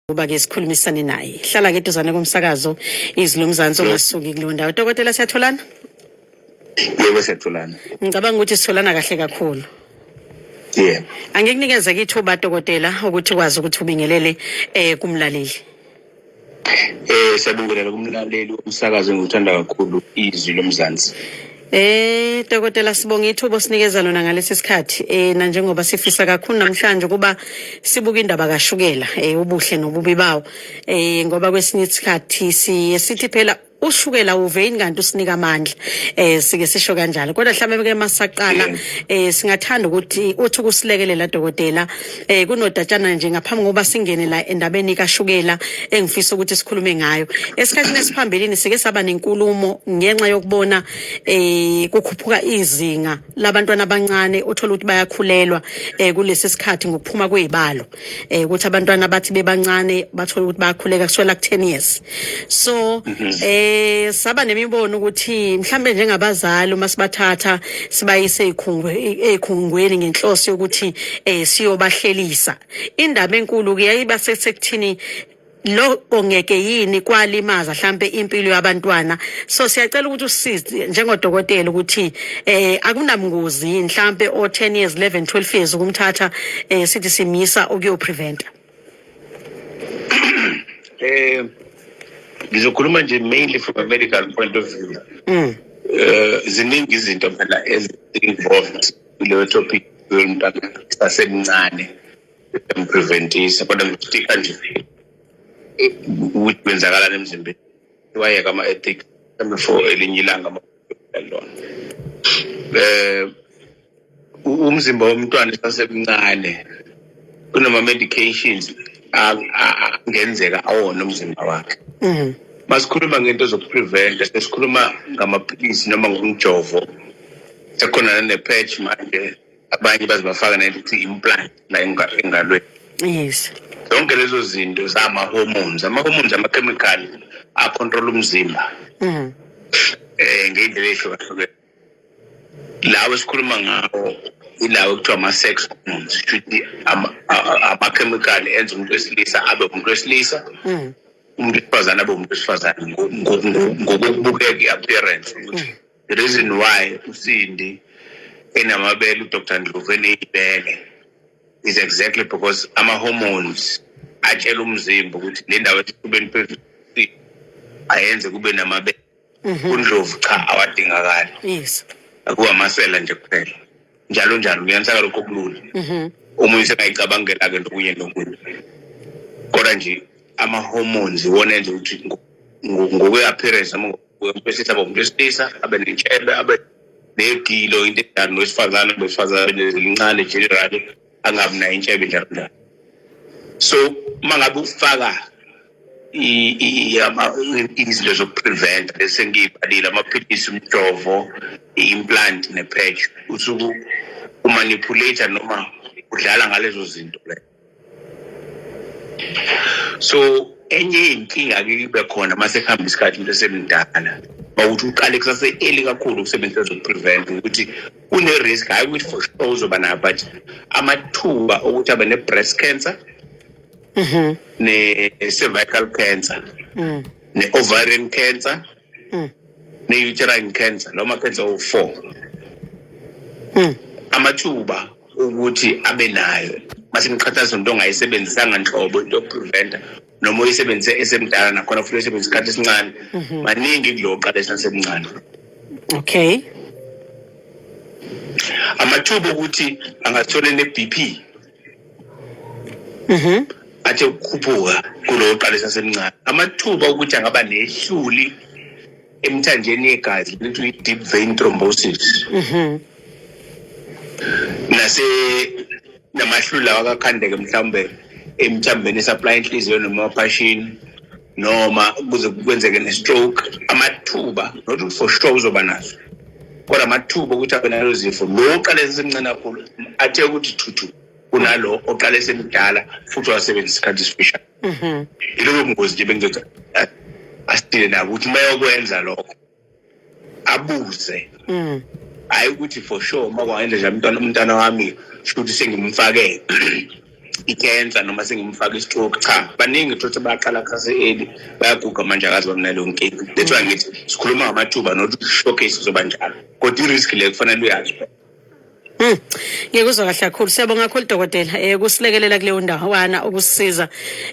ukuba ke sikhulumisane naye hlala ke duzane komsakazo izwi lomzansi ongasuki kuleyo ndawo dokotela siyatholana yebo siyatholana ngicabanga ukuthi sitholana kahle kakhulu yeah angikunikeze ke ithuba dokotela ukuthi ukwazi ukuthi ubingelele eh kumlaleli eh siyabingelela kumlaleli umsakazo engiwuthanda kakhulu izwi lomzansi Eh dokotela sibonga ithubo sinikeza lona ngalesi sikhathi eh na njengoba sifisa kakhulu namhlanje kuba sibuka indaba kashukela eh ubuhle nobubi bawo eh ngoba kwesinye isikhathi siye sithi phela ushukela uveyini kanti usinika amandla eh sike sisho kanjalo kodwa mhlawumbe ke masaqala eh singathanda ukuthi uthi ukusilekelela dokotela eh kunodatshana nje ngaphambi kokuba singene la endabeni kashukela engifisa ukuthi sikhulume ngayo esikhathini esiphambilini sike saba nenkulumo ngenxa yokubona eh kukhuphuka izinga labantwana abancane othola ukuthi bayakhulelwa eh kulesi sikhathi ngokuphuma kwezibalo eh ukuthi abantwana bathi bebancane bathola ukuthi bayakhuleka kuswela ku 10 years so mhm. eh saba nemibono ukuthi mhlambe njengabazali uma sibathatha sibayise ezikhungwe ezikhungweni ngenhloso yokuthi eh siyobahlelisa indaba enkulu ke yayiba sekuthini lokho ngeke yini kwalimaza mhlambe impilo yabantwana so siyacela ukuthi usize njengodokotela ukuthi eh akunamngozi mhlambe o 10 years 11 12 years ukumthatha eh sithi simisa ukuyo preventer Eh ngizokhuluma nje mainly from a medical point of view. Mm. Eh ziningi izinto phela ezinvolved kuleyo topic yomntana sasemncane empreventisa kodwa ngitika nje eh, ukuthi kwenzakalani emzimbeni wayeka ama-ethics for elinye ilanga lona um eh, umzimba womntwana esasemncane kunama-medications angenzeka awona umzimba wakhe mhm. masikhuluma ngento zokupreventa sesikhuluma ngamaphilisi noma ngomjovo sekhona nanepatch manje abanye baze bafaka nento ukuthi implant la engalweni yes zonke lezo zinto zama-hormones ama-hormones amakhemikhali akhontrola umzimba mhm. um ngey'ndlela ey'hlukahlukene lawo esikhuluma ngawo ilawo ekuthiwa ama-sex hormones shuthi amakhemikhali enza umuntu wesilisa abe umuntu wesilisa mm. umuntu wesifazane abe umuntu wesifazane ngokokubukeka i-appearance ukuthi mm. the reason why usindi enamabele udr ndlovu eneyibele is exactly because ama-hormones atshela umzimba ukuthi le ndawo esifubeni phezulu ayenze kube namabele Mhm. undlovu cha awadingakali yes akuwamasela nje kuphela njalo njalo kuyanisaka lokho kulula Mhm. umuntu sekayicabangela-ke nokunye nokunye kodwa nje ama-hormones iwona enza ukuthi ngo- ngo- ngokwe-appearance noma ngokwesilisa abe umuntu wesilisa abe nentshebe abe negilo into enjani nowesifazane abe wesifazane abe nezilincane generally angabi nayo intshebe njalonjalo so uma ngabe ufaka izinto zokupreventa bese ngiyibhalile amaphilisi umjovo i-implant ne-patch usuku umanipulate noma udlala ngalezo zinto le so enye inkinga ke ibe khona uma sekuhamba isikhathi umuntu esemdala mawukuthi uqale kusase-eli kakhulu ukusebenzisa zokupreventa ukuthi kune-risk hhayi ukuthi for sure uzoba nayo but amathuba okuthi abe ne-breast cancer mm-hmm. ne-cervical cancer mm. ne-ovarian cancer mm. ne-uterine cancer lawo ma-cancer owu-four mm. amathuba ukuthi abe nayo mase niqhathanisa nto ongayisebenzisanga nhlobo into yokupreventa noma uyisebenzise esemdala nakhona futhi uyisebenzisa isikhathi esincane mhm. maningi kulo qala esasemncane okay amathuba okuthi angathola ne-bp mhm athe ukukhuphuka kulo qala esasemncane amathuba okuthi angaba nehluli emthanjeni yegazi lento i-deep vein thrombosis Mhm. nase namahlulu lawa kakhandeke mhlawumbe emthambeni esaplaya inhliziyo noma amaphashini noma kuze kwenzeke ne-stroke amathuba not ukuthi for sure uzoba nazo kodwa amathuba okuthi abe nalo zifo lo oqale esemncane kakhulu athe ukuthi thuthu kunalo oqale esemdala futhi wasebenzisa isikhathi esifishane Mhm. Iloko ngozi nje bengizothi eh, asitile nabo ukuthi mayokwenza lokho abuze. Mhm. Hayi ukuthi for sure uma kwangenza nje umntwana umntwana wami futhi sengimfake icancer noma sengimfaka istroke cha baningi thothi baqala khase eli bayaguga manje akazi bamnalo nkinga that's why ngithi sikhuluma ngamathuba not showcase zoba njalo kodwa i-risk le kufanele uyazi Mm. Ngikuzwa kahle kakhulu. Siyabonga kakhulu dokotela eh kusilekelela kuleyo ndawana ukusiza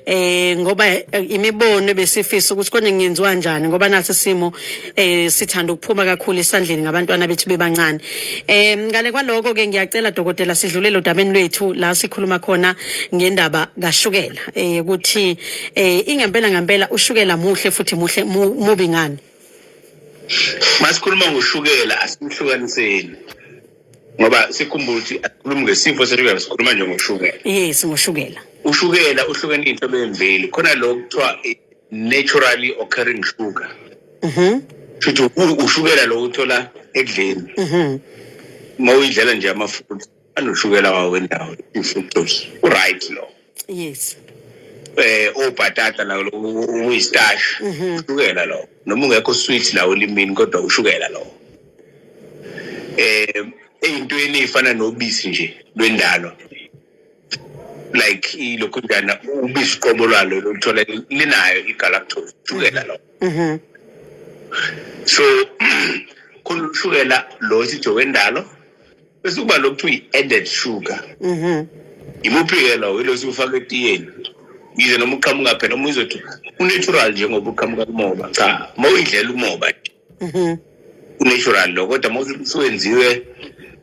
eh ngoba eh, imibono besifisa ukuthi konje ngenziwa kanjani ngoba nasi simo eh sithanda ukuphuma kakhulu isandleni ngabantwana bethu bebancane. Eh ngale kwaloko ke ngiyacela dokotela sidlulele odabeni lwethu la sikhuluma khona ngendaba kashukela eh ukuthi eh ingempela ngempela ushukela muhle futhi muhle mubi ngani. masikhuluma ngoshukela asimhlukaniseni ngoba sikhumbula ukuthi asikhulumi ngesifo seshukela sikhuluma nje ngoshukela yes ngoshukela ushukela uhlukene into bemveli khona lo kuthiwa naturally occurring sugar mhm futhi ushukela lo uthola ekudleni mhm mawuyidlela nje amafutha anoshukela wawo wendawo i-fructose uright lo yes eh obhatata la uyistash mhm. ushukela lo noma ungekho sweet la olimini kodwa ushukela lo eh eyintweni efana nobisi nje lwendalo like ilokhu njana ubisi qobo lwalo luthola linayo igalactose ushukela lo mhm. so khona ushukela lo sithi wendalo bese kuba lokhu kuthiwa i-added sugar imuphi-ke lowo ilo siwufaka etiyeni yize noma uqhamuka phela uma uzothi unatural njengoba uqhamuka kumoba cha uma uyidlela umoba nje unatural lo kodwa uma usuwenziwe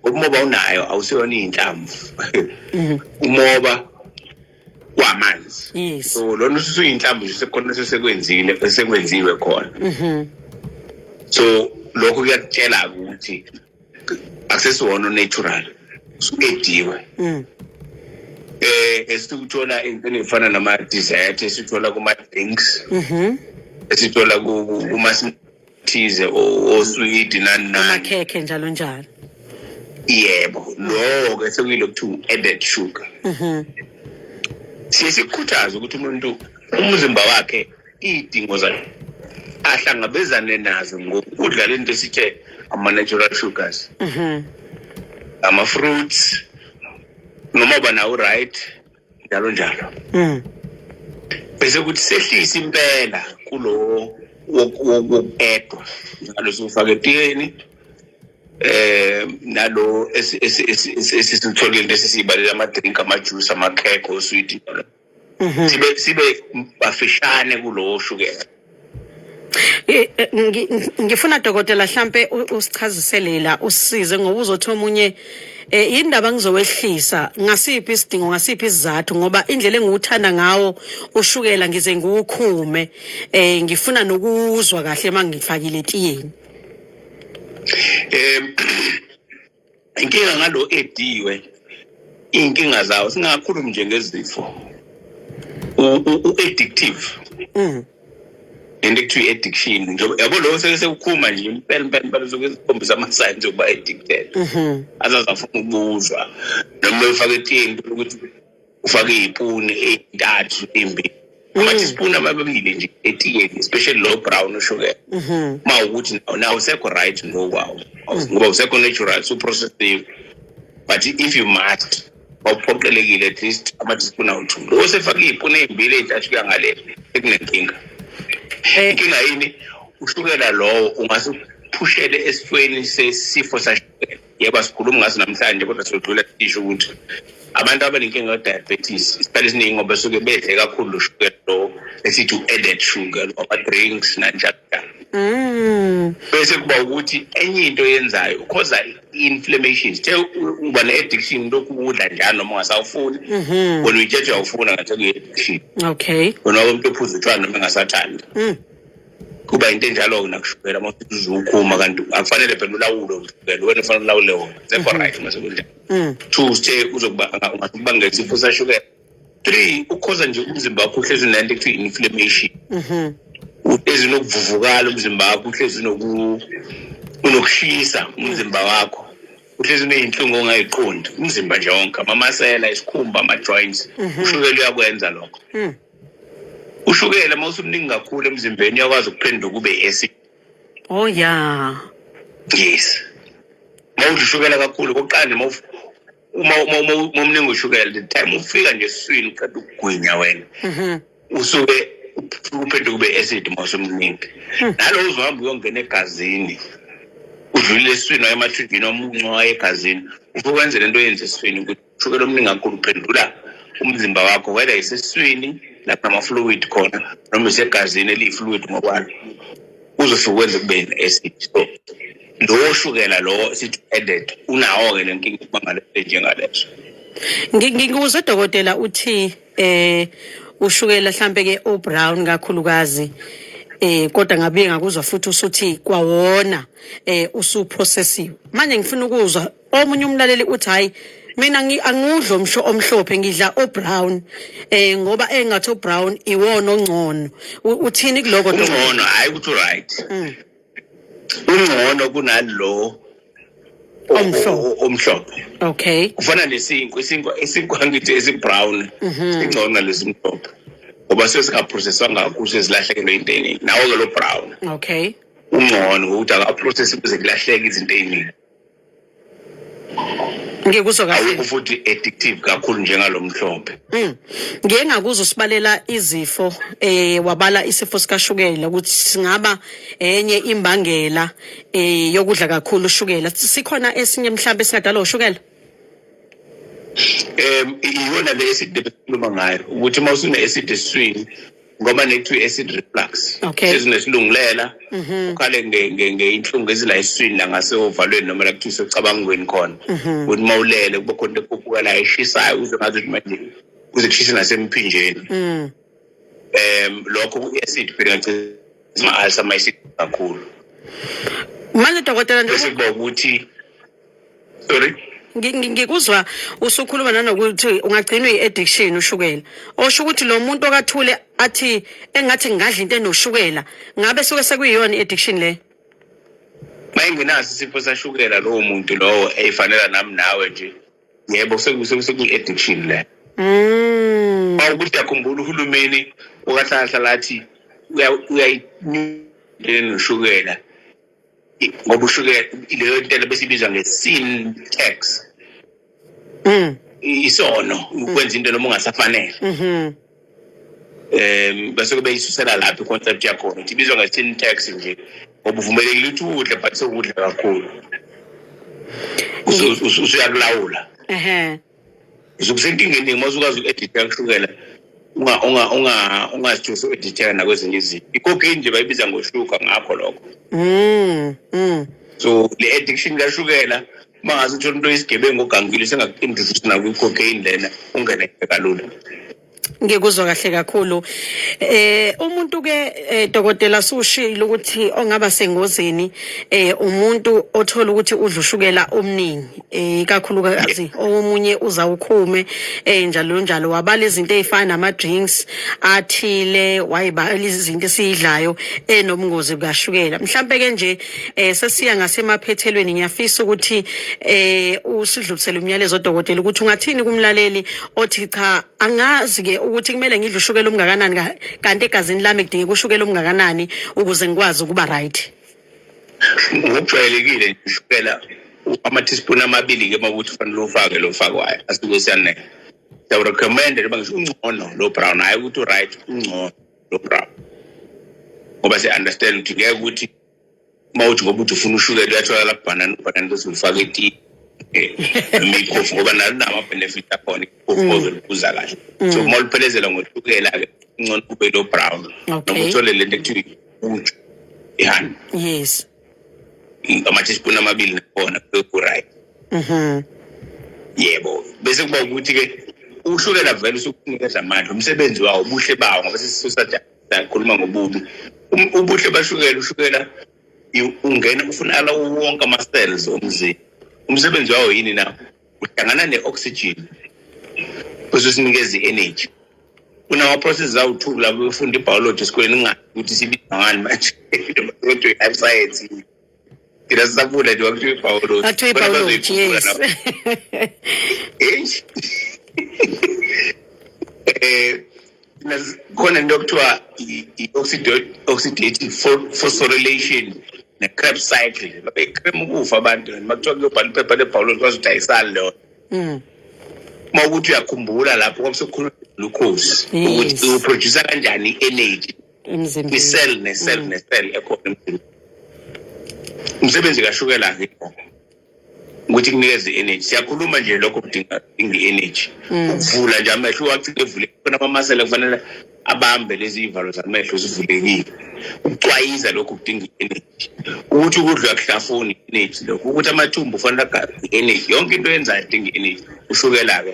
umoba unayo awusiyona iy'nhlamvu umoba kwamanzi yes. so lona usuyinhlamvu nje sekukhona sesekwenzile esekwenziwe khona so lokho kuyakutshela-ke ukuthi akusesiwona natural usuediwe mm. eh esikuthola into efana nama dessert esithola kuma drinks mhm esithola kuma thize oswidi nani nani khekhe njalo njalo yebo lowo ke sekuyilo kuthi added sugar mhm siye sikukhuthaza ukuthi umuntu umzimba wakhe iy'dingo zakhe ahlangabezane nazo ngokudla le nto esithe ama-natural sugars mhm. ama-fruits noma uba nawo right njalo njalo mhm. bese kuthi sehlise impela kulo wokuedwa njalo siwufake etiyeni eh nalo esisitholile lesi sibalela ama-drink ama-juice ama-cake oswiti mm -hmm. Mhm. sibe sibe bafishane kulowo shukela Eh, eh, ngi- ngi- ngifuna dokotela hlampe u- usichazisele la usize ngoba uzothi omunye eh yini ndaba ngizowehlisa ngasiphi isidingo ngasiphi isizathu ngoba indlela engiwuthanda ngawo ushukela ngize ngiwukhume eh ngifuna nokuzwa kahle mangifakile etiyeni um inkinga ngalo ediwe iy'nkinga zawo singakhulumi nje ngezifo u-addictive mm. into ekuthiwa i-addiction njengoba yabo lokho seke sekukhuma nje impela impela impela usuke sikhombisa ama-signs okuba addicted mhm. azazafuna ukubuzwa noma efake etini ukuthi ufake iy'puni ey'ntathu imbi mm. amathisipuni amababili nje etiyeni especially low brown ushukela ma mm-hmm. ukuthi na usekho right ngokwawo mm. ngoba usekho natural suprocessive but if you must wawuphoqelekile at least amathisipuni awuthu lo osefake iy'puni ey'mbili ey'ntathu kuya ngale ekunenkinga eh. inkinga yini ushukela lowo ungase uphushele esifweni sesifo sashukela yebo asikhulumi ngaso namhlanje kodwa siyodlula isho ukuthi abantu abanenkinga yodiabetes isikhathi esiningi ngoba suke bedle kakhulu ushukela lo esithi u-added sugar ama-drinks nanjalo mm. bese kuba ukuthi enye into yenzayo ukhoza i-inflammation sithe uba ne-addiction lokhu ukudla njalo noma ungasawufuni mhm. wena uyitshethe uyawufuna ngathi kuyi-addiction okay wena umntu ophuza utshwana noma engasathandi mm. kuba yinto enjalo-ke nakushukela uma usukhuma kanti akufanele phela ulawule ushukela wena ufanele ulawule wona sekho right uma sekunjalo mm. two uthe uzokubangela isifo sashukela three ukhoza nje umzimba wakho uhlezi unento ekuthiwa i-inflammation mm-hmm. uhlezi unokuvuvukala umzimba wakho uhlezi unokushisa umzimba wakho uhlezi uneyinhlungu ongayiqondi umzimba nje wonke amamasela isikhumba ama-joints mm-hmm. ushukela uyakwenza lokho mm. ushukela uma usumningi kakhulu emzimbeni uyakwazi ukuphendula kube esi oh ya yes uma udla ushukela kakhulu kokuqala uma uma uma umningi ushukela the time ufika nje eswini uqeda ukugwinya wena mhm. usuke uphendula kube acid uma usumningi hmm. nalowo uzohamba uyongena egazini udlulile eswini waye emathunjini omuncu waye egazini ufukwenzela into yenze eswini ukuthi ushukela omningi kakhulu uphendula umzimba wakho whether iseswini lapho ama-fluid khona noma isegazini eliyi-fluid ngokwalo uzosuke kwenza kube ne-acid so lowo shukela lowo sithi added unawo-ke le nkinga ukuba ngaleso njengaleso ngikuze dokotela uthi eh ushukela mhlambe ke o brown kakhulukazi eh kodwa ngabuye ngakuzwa futhi usuthi kwawona eh usuprocessive manje ngifuna ukuzwa omunye umlaleli uthi hayi mina angudlo msho omhlophe ngidla obrown eh ngoba engathi obrown iwona ongcono uthini kuloko ongcono hayi ukuthi right mm. ungcono kunalo omhlophe omhlophe okay kufana nesinkwa isinkwa isinkwa ngithi esibrown mhm. singcono nalesimhlophe ngoba sesingaprocesswanga kakhulu sezilahlekelo inteni nawo ke lo brown okay ungcono ukuthi akaprocess kuze kulahleke izinto eziningi ngikuzwa kahle awukho futhi addictive kakhulu njengalomhlophe Mm. Ngike ngakuzo sibalela izifo eh wabala isifo sikashukela ukuthi singaba enye imbangela eh yokudla kakhulu ushukela. Sikhona esinye mhlambe singadala ushukela. um iyona le eside besikhuluma ngayo ukuthi uma usune-acid esiswini ngoba nekuthiwa i-acid reflux okay. sezinesilungulela mhm. ukhale ngeinhlungu ezila eswini la ngaseovalweni noma la kuthiwa isecabangweni khona mhm. ukuthi uma ulele kuba khona ekhuphuka la eshisayo uze ngazi ukuthi manje kuze kushise nasemphinjeni um lokho ku-acid phela ngagcina ma-alsa mayisikakhulu manje dokotela nje ukuthi sorry ngikuzwa usukhuluma nanokuthi ungagcinwa i-addiction ushukela osho ukuthi lo muntu okathule athi engathi ngingadla into enoshukela ngabe suke sekuyiyona i-addiction le mayengenaso isifo sashukela lowo muntu lowo eyifanela nami nawe nje yebo sekuyi-addiction le mm. ukuthi yakhumbula uhulumeni okahlalahlala athi uyayinyulela noshukela ngoba ushukela leyo ntela besibiza nge-sin tax mm. isono ukwenza into noma ungasafanele mm-hmm. um bese kube isusela lapho i-concept yakhona ukuthi ibizwa nge-sin tax nje ngoba uvumelekile ukuthi udle but sewudla kakhulu usuyakulawula ususenkingeni uma usukazi uku-editha ushukela ungazithusi u-editheka nakwezinye izinto ikokini nje bayibiza ngoshuka ngakho lokho mm, mm. so le addiction kashukela uma ngaze uthole umuntu oyisigebengu ogangile sengaku-introduce nakwikokeyini lena ungeneke kalula Ngikuzwa kahle kakhulu. Eh umuntu ke eh, dokotela sushilo ukuthi ongaba sengozini eh umuntu othola ukuthi udla ushukela omningi eh kakhulukazi omunye uzawukhume eh njalo njalo wabala izinto ezifana nama drinks athile wayibala izinto esidlayo enobungozi eh, bukashukela. Mhlambe ke nje eh sesiya ngasemaphethelweni ngiyafisa ukuthi eh usidlulisele umyalezo dokotela ukuthi ungathini kumlaleli othi cha angazi ke ukuthi kumele ngidle ushukela omngakanani kanti egazini lami kudingeka ushukela omngakanani ukuze ngikwazi ukuba right ngokujwayelekile ushukela ama-teaspoon amabili-ke uma ukuthi ufanele ufake lo fakwayo asuke siyanele siyawurecommenda noma ngisho ungcono lo brown hhayi ukuthi u-right ungcono lo brown ngoba si-understand ukuthi ngeke ukuthi uma uthi ngoba uthi ufuna ushukela uyatholakala kubhanana ubhanana bese ulifaka etiye imikhofu ngoba nalo nama-benefit akhona ikhofu mm. ozolibuza kahle mm. so uma uliphelezela ngoshukela-ke ncona kube lo brown noma uthole le nto ekuthiwa uju ihani yes ama-teaspoon amabili nakhona kurayi mhm. yebo bese kuba ukuthi-ke uhlukela vele usukunikeza amandla umsebenzi wawo ubuhle bawo ngoba sesisusa Ngikhuluma ngobubi. Um, ubuhle bashukela ushukela ungena ufuna ala wonke ama cells omzimba. Umsebenzi wawo yini na? Uhlangana ne oxygen. Bese sinikeza i energy. Kunawo process zawu two labo befunda i biology esikoleni ngathi ukuthi sibiza ngani manje. Kodwa i science. Ina sabula nje wakuthiwa ibhawoloji. Ngathiwa Bona ibhawoloji, bazoyikhulula yes. lapho. Eish. Eh, nas- khona into okuthiwa i- i- oxido- oxidative pho- phosphorylation ne-crab cycle babecrem ukufa abantu and makuthiwa kuyobhala iphepha lebhawoloji kwazi ukuthi ayisali leyo Mm. uma ukuthi uyakhumbula lapho kwabe sekukhuluma lukhosi Yes. ukuthi uproducer kanjani i-energy emzimbeni kwi-cell ne-cell mm. ne-cell ekhona emzimbeni umsebenzi kashukela akekho ukuthi kunikeze i-energy siyakhuluma nje lokho kudinga i-energy mm. ukuvula nje amehlo uwacike evule khona amamasela kufanele abambe lezi iy'valo zamehlo zivulekile ukucwayiza lokho kudinga i-energy ukuthi ukudla kuhlafuni i-energy lokho ukuthi amathumbu kufanele agabe i-energy yonke into yenzayo idinga i-energy ushukela-ke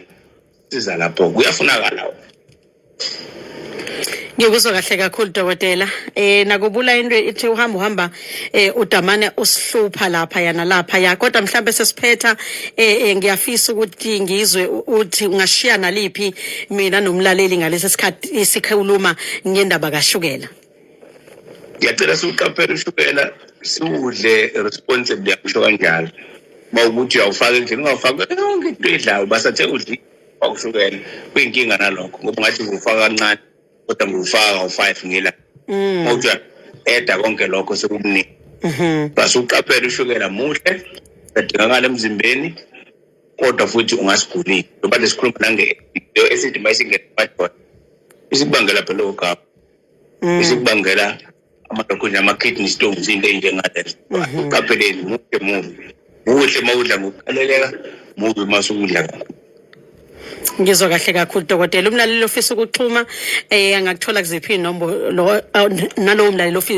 siza lapho kuyafunakala ngikuzwa kahle kakhulu dokotela eh nakubula into ithi uhamba uhamba eh udamane usihlupha lapha yana lapha ya kodwa mhlambe sesiphetha eh, eh ngiyafisa ukuthi ngizwe uthi ungashiya naliphi mina nomlaleli ngalesi sikhathi isikhuluma ngendaba kashukela ngiyacela siwuqaphele ushukela siwudle responsibly yakusho kanjalo uma ukuthi uyawufaka endlini ungawufaka yonke into edlayo basathe udli wakushukela kuyinkinga nalokho ngoba ungathi ngufaka kancane kodwa ngufaka kawu-five ngila mm. uma uthi eda konke lokho sekukuningi mm-hmm. base uqaphele ushukela muhle adingakala emzimbeni kodwa futhi ungasigulile ngoba lesikhuluma nange esithi uma isingena madoda isikubangela phela ogaba mm. isikubangela amadokhuni ama-kidney stones into eyinjengalezo mm-hmm. uqapheleni muhle mubi muhle uma udla ngokukhaleleka mubi uma sukudla kakhulu ngizwa kahle kakhulu dokotela umlaleli ofisa ukuxhuma um angakuthola kuziphi inombolo nalowo mlaleli ofisa